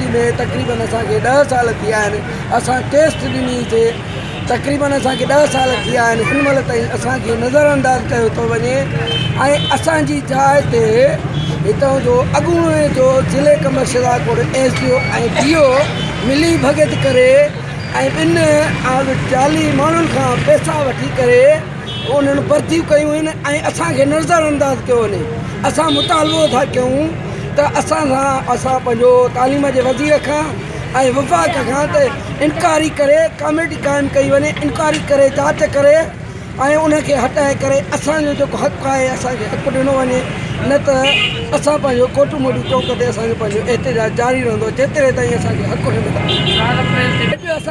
university ۾ تقريبن اسان کي ڏهه سال ٿي ويا آهن اسان ٽيسٽ ڏني سي تقريبن اسان کي ڏهه سال ٿي ويا آهن هن مهل تائين اسان کي نظر انداز ڪيو ٿو وڃي ۽ اسان جي جاء تي هتان جو اڳوڻي جو ضلعي ڪمرشل ڪوٽ S D O ۽ D O ملي ڀڳت ڪري ۽ ٻن جعلي ماڻهن کان پئسا وٺي ڪري انهن ڀرتيون ڪيون آهن ۽ اسان کي نظر انداز ڪيو وڃي اسان مطالبو ٿا ڪيون ته اسان سان اسان پنهنجو تعليم جي وزير کان ۽ وفاق کان ته انڪوائري ڪري ڪاميٽي قائم ڪئي وڃي انڪوائري ڪري جاچ ڪري ۽ ان کي هٽائي ڪري اسان جو جيڪو حق آهي اسان کي حق ڏنو وڃي نه ته اسان پنهنجو ڪوٽ موٽي چوڪ تي اسان جو پنهنجو احتجاج جاري رهندو جيتري تائين اسان کي حق نه ملندو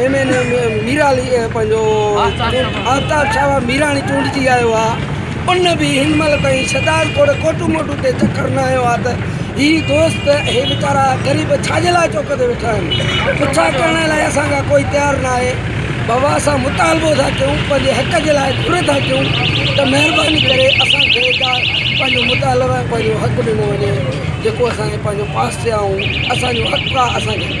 ايم اين اي ۾ ميرالي پنهنجو آفتاب شاهه ميراڻي چونڊجي آيو آهي ان به هن مهل تائين شهداد کوڙ ڪوٽو موٽو تي چڪر نه آيو آهي ته هي دوست هي ويچارا غريب ڇاجي لاء چوڪ تي ويٺا آهن پڇا ڪرڻ لاء اسان کان ڪوئي تيار نه آهي بابا اسان مطالبو ٿا ڪيون پنهنجي حق جي لاء گهر ٿا ڪيون ته مهرباني ڪري اسان کي پنهنجو مطالبا پنهنجو حق ڏنو وڃي جيڪو اسان کي پنهنجو پاس ٿيا آهيون اسانجو حق آهي اسان کي